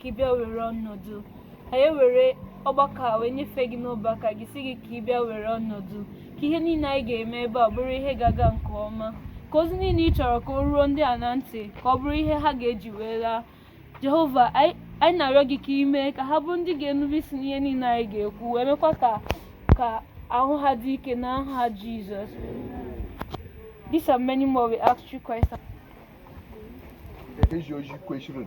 ka ị bịa were ọnọdụ anyị ewere ọgbakọ a wee nyefee gị n'ọba aka gị si gị ka ị bịa were ọnọdụ ka ihe niile anyị ga-eme ebe a bụrụ ihe ga-aga nke ọma ka ozi niile ị chọrọ ka o ruo ndị a na ntị ka ọ bụrụ ihe ha ga-eji wee laa jehova anyị na-arịọ gị ka i mee ka ha bụrụ ndị ga-enube isi n'ihe niile anyị ga-ekwu wee mekwa ka ahụ ha dị ike n'aha jizọs These and many more we ask through Christ. Ezi oji kwesịrị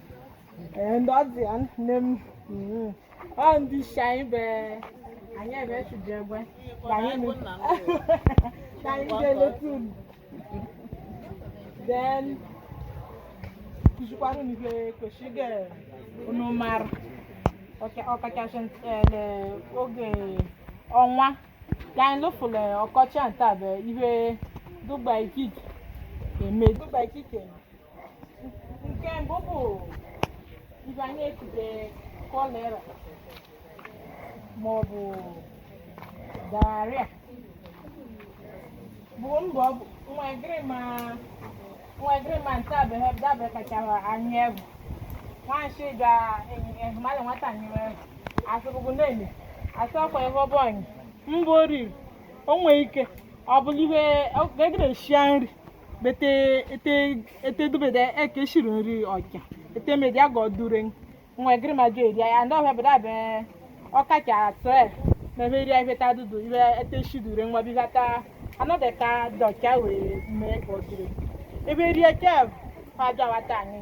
ndị ọ dị ya nne m mm, ọ ndị isi anyị be anyị ebe chụdị egbe ka anyị nụ- ka anyị ga-eleta unu then kụzikwara unu ihe kwesịrị ga unu mara ọka- ọkachasị eh, le- oge ọnwa ka anyị lụfụrụ ọkọchị a nta bụ ihe dụgba ikike eme dụgba ikike eme nke mbụ bụ ihe anyị ekute kọlera ma ọ bụ diarrhea bụ ndụ ọ bụ ụnwegirima ụnwegirima nta bụ ihe dabe kachara anyị egwu nwanshi ga mmadụ nwata nyere asụrụgụ na-eme asụ ọkwa ihe ọ bụ anyị mbụ oriri o nwee ike ọ bụrụ ihe egere eshia nri bete ete ete dubede eke shiri nri ọja ete medi aga ọdure ụnwegirima jụ eri ya ndị ọbịa bịara be ọka ka atọ ya na ebe eri ya ife ta dudu ibe ete shidure nwa biga ta anọdụ ka dọ ọcha wee mee ka ọdure ebe eri ya kev aja wata anyị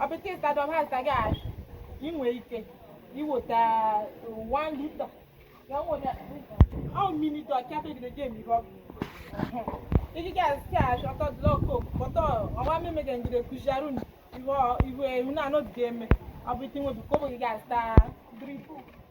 ọ bụ ike ịzụta dọm ha zụta gị ahụ i nwe ike iweta one liter ya nwere ọ mmiri dọ ọcha ebe gide gem ihe ọgwụ iji gị azụ ka ahụ ọtọ dụlọ koku kpọtọ ọwa mmemme gị ngide kụziarụ iwe ihu na anọdụ ga-eme ọ bụ ike nwebi kobo gị ga-azụta drip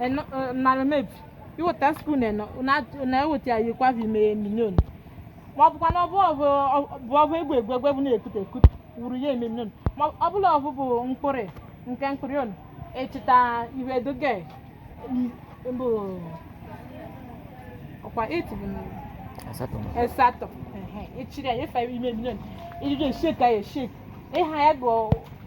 eno eh, narị mebi iweta spoon eno na- na-eweta ya yikwa n'ime mini ono ma ọ bụkwa na ọbụ ọbụ bụ ọbụ egwu egwu egwu egwu na-ekute ekute wuru ya ime mini ono ma ọ bụla ọbụ bụ mkpụrụ nke mkpụrụ onu echeta ihe doge bụ ọkwa eight bụ asatọ asatọ ehe, echiri ya efe ime mini ono iri ga-eshek ya eshek ịha ya bụ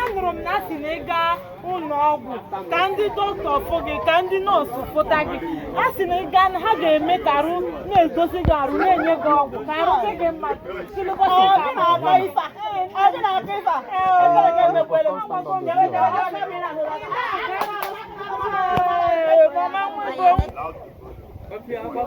anụrụ m na a sị na ị gaa ụnọ ọgwụ ka ndị dọkịta fụ gị ka ndị nọọsụ fụta gị a sị na ị gaa na ha ga-eme ka arụ na-edozi gị arụ na-enye gị ọgwụ ka arụ dị gị mma Ee, mama, mama, mama.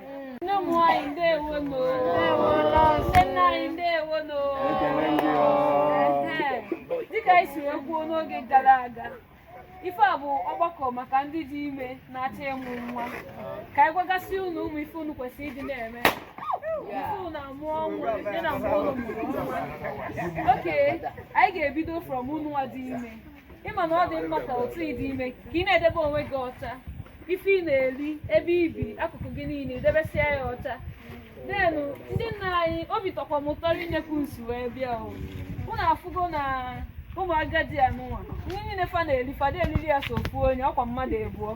nne m nwanyị ndewo nu nne nna anyị ndewo nu dịka anyị si wee kwuo n'oge gara aga ife a bụ ọgbakọ maka ndị dị ime na-achọ ịmụ nwa ka anyị gwagasị unu ụmụ ife unu kwesịrị ịdị na-eme okay anyị ga-ebido from unu nwa dị ime ị ma na ọ dị mma ka otu ị dị ime ka ị na-edebe onwe gị ọcha ife ị na-eri ebe i bi akụkụ gị niile i debesịa ya ọcha denu ndị nna anyị obi tọkwa m ụtọ nye etu unu si wee bịa o unu afụgo na ụmụ agadi anụnwa nri niile fa na-eri fa ada eriri ya sọ ofu onye ọkwa mmadụ ịbụọ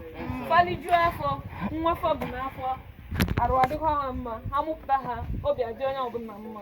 fa lijuo afọ nwa fa bu n'afọ arụ adịkwa ha mma ha mụpụta ha obi adị onye ọbụla mma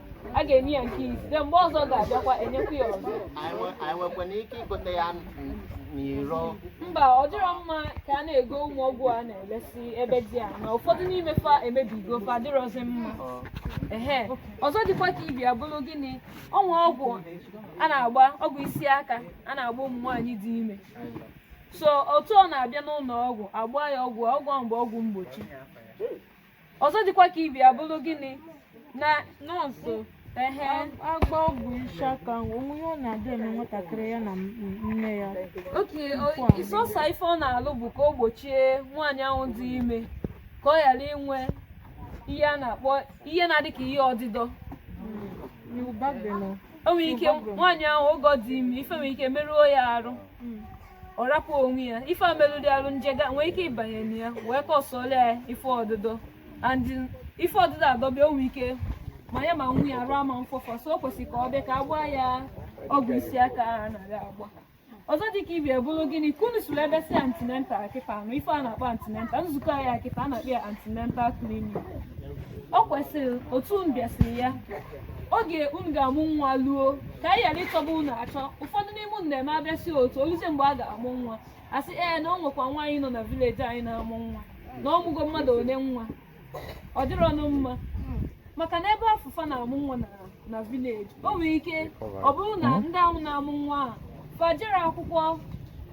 a ga-enye ya nke izizi mgbe ọzọ ga-abịakwa enyekwa ya ọzọ anyị nwekwana ike igote ya n'iro mba ọ dịrọ mma ka a na-ego ụmụ ọgwụ a na-elesi ebe dị a na ụfọdụ n'ime fa emebigo fa adịrọzi mma ehe ọzọ dịkwa ka ibe ya bụrụ gịnị o nwe ọgwụ a na-agba ọgwụ isi aka a na-agba ụmụ nwaanyị dị ime so otu ọ na-abịa n'ụlọ ọgwụ agba ya ọgwụ ọgwụ ahụ bụ ọgwụ mgbochi ọzọ dịkwa ka ibe ya bụrụ gịnị na nọọsụ ehe a gba ọgwụ isi aka o nwe ihe ọ na-adị eme nwatakịrị ya na nne ya okay ịsọsa ife ọ na-alụ bụ ka o gbochie nwaanyị ahụ dị ime ka ọ ghara inwe ihe a na-akpọ ihe na-adị ka ihe ọdịdọ o nwere ike nwaanyị ahụ oge ọ dị ime ife nwere ike merụọ ya arụ ọ rapụ onwe ya ife a melụlụ arụ nje ga-enwe ike ịbanye na ya wee kọsọla ya ife ọdịdọ and ife ọdịdọ adọba ya o nwe ike ma ya ma nwa ya arụ ama mfọfọ so o kwesịrị ka ọ bịa ka a gbaa ya ọgwụ isi aka a na-aga agba ọzọ dị ka ibe ya bụrụ gịnị ka unu sụrụ ebe si antenatal kịta anụ ife a na-akpọ antenatal nzukọ anyị a kịta a na-akpọ ya antenatal clinic ọ kwesịrị otu unu bịasịrị ya oge unu ga-amụ nwa luo ka anyị ghara ịchọba unu achọ ụfọdụ n'ime unu na-eme abịasị otu o luzie mgbe a ga-amụ nwa a sị ee na o nwekwa nwaanyị nọ na village anyị na-amụ nwa na ọ mụgo mmadụ ole nwa ọ dịrọnụ mma maka na ebe afụ fa na-amụ nwa na village o nwere ike ọ bụrụ na ndị ahụ na-amụ nwa ahụ fa ejero akwụkwọ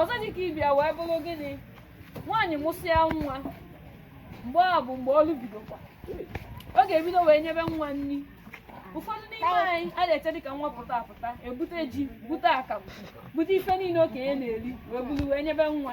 ọzọ dị ka ibe ya wee bụrụ gịnị nwaanyị mụsịa nwa mgbe a bụ mgbe ọrụ bidokwa ọ ga-ebido wee nyebe nwa nri ụfọdụ n'ime anyị a na-eche dịka nwa pụta apụta ebute ji bute akamụ bute ife niile okenye na-eri wee buru wee nyebe nwa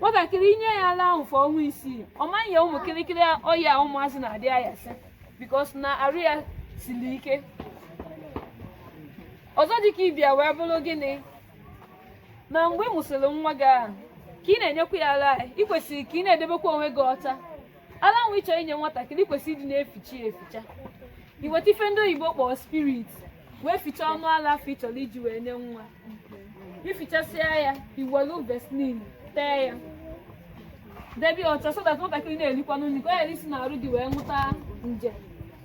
nwatakịrị i nye ya ala ahụ for ọnwa isii ọ maghị ya ụmụ kịrịkịrị ọya ụmụazị na-adị ayasị because na arụ ya siri ike ọzọ dịka ị bịa wee bụrụ gịnị na mgbe ị mụsịrị nwa gị ahụ ka ị na-enyekwa ya ala ị kwesịrị ka ị na-edebekwa onwe gị ọcha ala ahụ ị chọrọ inye nwatakịrị kwesịrị ịdị na-eficha ya eficha i weta ife ndị oyibo kpọrọ spirit wee ficha ọnụ ala afụ ị chọrọ iji wee nye nwa i fichasịa ya i welu Vaseline tee ya debe ya ọcha so that nwatakịrị na-erikwanụ nri ka ọ ghara isi n'arụ gị wee nwụta nje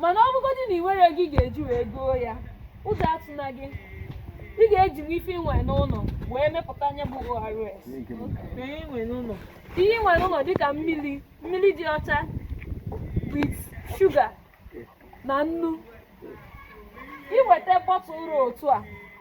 mana ọ bụgodị na i nwerọ ego ị ga-eji wee goo ya ụjọ atụna gị ị ga-ejinwu ife i nwe n'ụlọ wee mepụta nya bụ ORS ihe i nwe n'ụlọ ihe i nwe n'ụlọ dịka mmiri mmiri dị ọcha with shuga na nnu i weta bọtụl ra otu a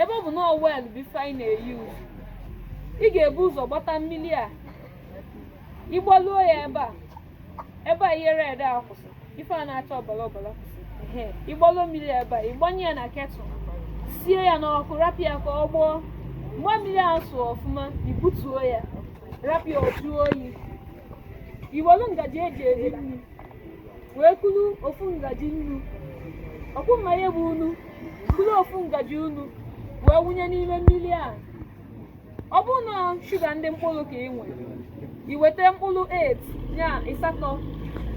ebe ọ bụ na well bụ ife anyị na-e use ị ga-ebu ụzọ gbata mmiri a ị gbaluo ya ebe a ebe a ihe red a kwụsị ife a na-acha ọbara ọbara kwụsị ehe ị gbaluo mmiri a ebe a ị gbanye ya na ketụl sie ya n'ọkụ rapụ ya ka ọ gbọọ mgbe mmiri ahụ sụọ ọfụma i butuo ya rapụ ya ọ jụọ oyi i welu ngaji eji eri nri wee kuru ofu ngaji nnu ọkwa ị ma nya bụ unu kuru ofu ngaji unu wee wụnye n'ime mmiri a ọ bụrụ na shuga ndị mkpụrụ ka ị nwere i weta mkpụrụ 8 nya ịsatọ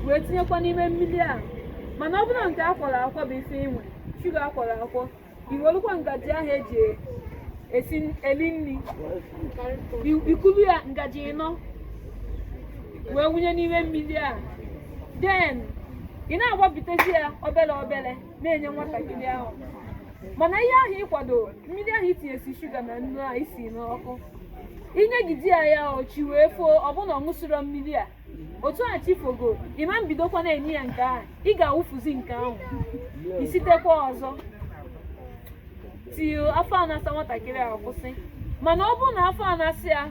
wee tinyekwa n'ime mmiri a mana ọ bụrụ na nke a kwọrọ akwọ bụ ife ị nwere shuga a kwọrọ akwọ i welukwa ngaji ahụ eji eli nri i kulu ya ngaji ịnọ wee wụnye n'ime mmiri a then ị na-agbapụtezi ya obere obere na-enye nwatakịrị ahụ mana ihe ahụ ị kwado mmiri ahụ i tinyesị shuga na nnu a i si n'ọkụ i nyegide ya chi wee foo ọ bụ na ọ ṅụsịrọ mmiri a otu a chi fogo ị ma bidokwa na-enye ya nke ahụ ị ga-awụfuzi nke ahụ i sitekwa ọzọ till afọ a na-asa nwatakịrị a kwụsị mana ọ bụrụ na afọ a na-asa ya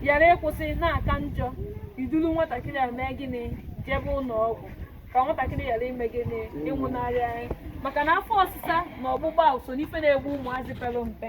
ghara ịkwụsị na-aka njọ i duru nwatakịrị a mee gịnị jebe ụlọ ọgwụ ka nwatakịrị ghara ime gịnị ịnwụnarị anyị maka na afọ ọsịsa na ọgbụgbọ ahụ so n'ife na-egbu ụmụazị pere mpe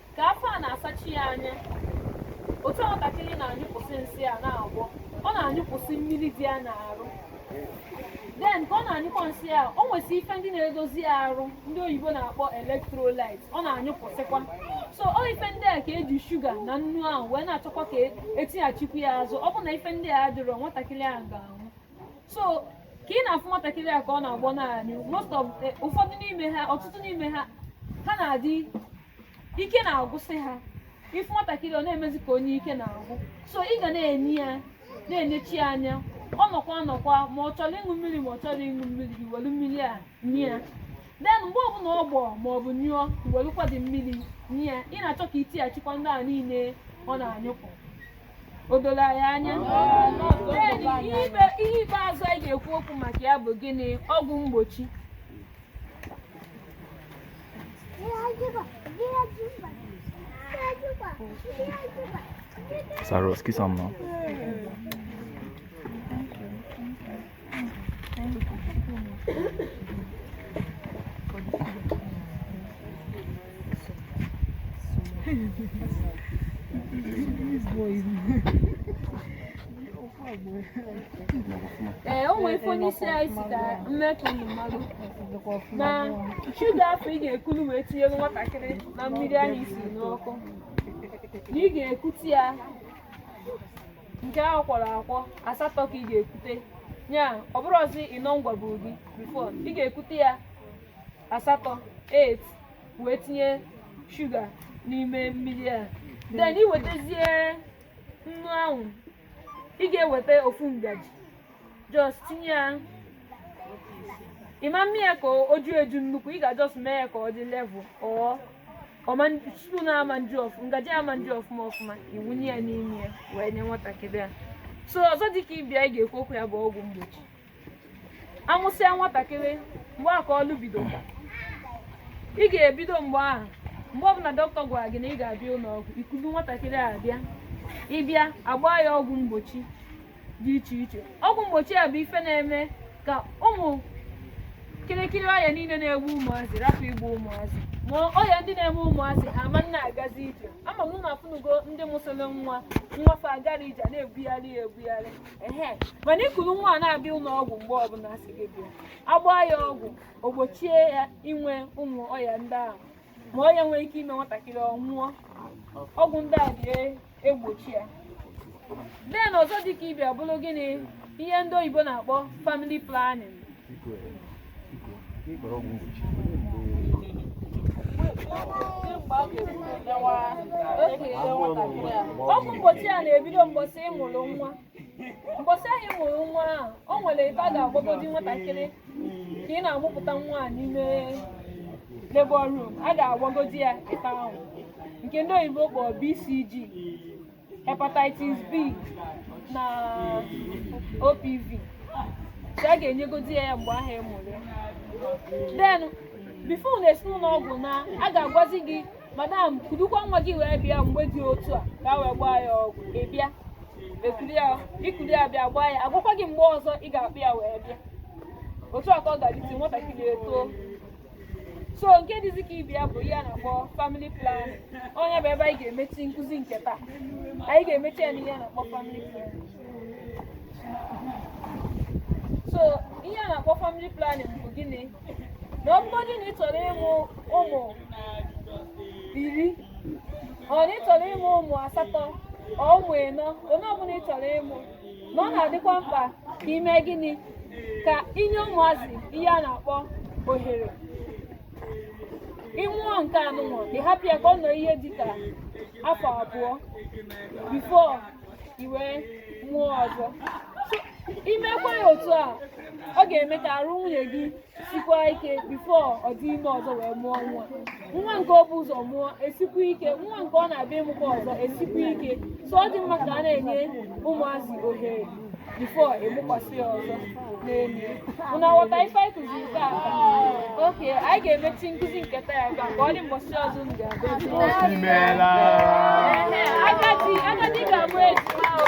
ka afọ a na-asachi ya anya otu nwatakịrị na-anyụpụsị nsị a na-agbọ ọ na-anyụpụsị mmiri dị ya n'arụ then ka ọ na-anyụkwa nsị a o nwesị ife ndị na-edozi ya arụ ndị oyibo na-akpọ electrolyte ọ na-anyụpụsịkwa so ọ ife ndị a ka eji shuga na nnu ahụ wee na-achọkwa ka etighachikwu ya azụ ọ bụ na ife ndị a adịrọ nwatakịrị ahụ ga-anwụ so ka ị na-afụ nwatakịrị a ka ọ na-agbọ na-anyụ most of ụfọdụ n'ime ha ọtụtụ n'ime ha ha na-adị ike na-agwụsị ha ị fụ nwatakịrị ọ na-emezi ka onye ike na-agwụ so ị ga na-enye ya na-enechi ya anya ọ nọkwa anọkwa ma ọ chọrọ ịṅụ mmiri ma ọ chọrọ ịṅụ mmiri i welu mmiri a nye ya then mgbe ọbụla ọ gbọọ ma ọ bụ nyụọ i welukwa dị mmiri nye ya ị na-achọ ka itighachikwa ndị a niile ọ na-anyụpụ o doro anyị anya Then, ihe ikpe- ihe ikpeazụ anyị ga-ekwu okwu maka ya bụ gịnị ọgwụ mgbochi Sarı ki sanma. ee o nwere ife onye isi anyị sị ka m mee ka unu malụ na shuga afụ ị ga-ekulu wee tinyere nwatakịrị na mmiri ahụ i si n'ọkụ na ị ga-ekute ya nke ahụ kwọrọ akwọ asatọ ka ị ga-ekute ya ọ bụrụ ọzi ịnọ ngwaburu gị before ị ga-ekute ya asatọ wee tinye shuga n'ime mmiri a then ị wetazie nnu ahụ ị ga-eweta ofu ngaji just tinye ya ịma mme ya ka o ju eju nnukwu ị ga-just mee ya ka ọ dị level ọ ọma spoon ama nju ọfụma ngaji ama nju ọfụma ọfụma iwunye ya n'ime ya wee nye nwatakịrị a so ọzọ dịka ibe ya ị ga-ekwu okwu ya bụ ọgwụ mgbochi amụsịa nwatakịrị mgbe a ka ọlụ bido ị ga-ebido mgbe ahụ mgbe ọbụla dọkịta gwara gị na ị ga-abịa ụlọ ọgwụ ikulu nwatakịrị a bịa ịbịa agba ya ọgwụ mgbochi dị iche iche ọgwụ mgbochi a bụ ife na-eme ka ụmụ kirikiri ọya niile na-egbu ụmụazị rapụ igbu ụmụazị ma ọya ndị na-eme ụmụazị ha ama na-agazi ije ama m na afụnugo ndị mụsịrị nwa nwa fa agarọ ije na-ebugharị ya ebugharị mana ikuru nwa a na-abịa ụlọ ọgwụ mgbe ọbụla a sị gị bịa agbaa ya ọgwụ o gbochie ya inwe ụmụ ọya ndị ahụ ma ọya nwere ike ime nwatakịrị ọ nwụọ ọgwụ ndị a dị egbochi ya then ọzọ dịka ibe ya bụrụ gịnị ihe ndị oyibo na-akpọ family planning ọgwụ mgbochi a na-ebido mgbọsị ị mụrụ nwa mgbọsị ahụ ị mụrụ nwa ahụ o nwere nke a ga-agbagodi nwatakịrị ka ị na-amụpụta nwa a n'ime labor room a ga-agbagodi ya nke ahụ nke ndị oyibo kpọrọ BCG hepatitis B na OPV so a ga-enyegodi ya ya mgbe ahụ ị mụrụ ya then before ụnụ esi n'ụlọ ọgwụ naa a ga-agwazi gị madam kudukwa nwa gị wee bịa mgbe dị otu a ka a wee gbaa ya ọgwụ ị bịa i kuli ya bịa gbaa ya a gwakwa gị mgbe ọzọ ị ga-akpọ ya wee bịa otu a ka ọ ga-adị till nwatakịrị etoo so nke dịzi ka ibi ya bụ ihe a na-akpọ family planning ọ ya bụ ebe anyị ga-emechi nkụzi nke taa anyị ga-emechi ya n'ihe a na-akpọ family planning so ihe a na-akpọ family planning bụ gịnị na ọ bụgodị na ị chọrọ ịmụ ụmụ iri ọ na ị chọrọ ịmụ ụmụ asatọ ọ ụmụ ịnọ one ọbụla ị chọrọ ịmụ na ọ na-adịkwa mkpa ka i mee gịnị ka i nye ụmụazị ihe a na-akpọ ohere ị mụọ nke anụnwa ị hapụ ya ka ọ nọ ihe dịka afọ abụọ before i wee mụọ ọzọ i mekwaa ya otu a ọ ga-eme ka arụ nwunye gị sikwa ike before ọ dị ime ọzọ wee mụọ nwa nwa nke o bu ụzọ mụọ esikwa ike nwa nke ọ na-abịa ịmụkwa ọzọ esikwa ike so ọ dị mma ka a na-enye ụmụazị ohere before ị mụkwasị ya ọzọ n'elu ụnụ aghọta ife anyị kụziri taa okay anyị ga-emechi nkụzi nke taa ya ka ọ dị mbọchị ọzọ m ga-abịa agadi agadi ga-abụ ejima o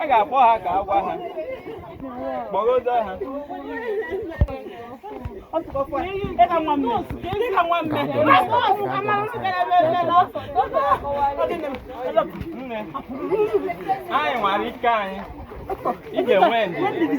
a ga-akpọ ha ka a gwa ha kpọgodo ha nne anyị nwere ike anyị ị ga-enwe ndidi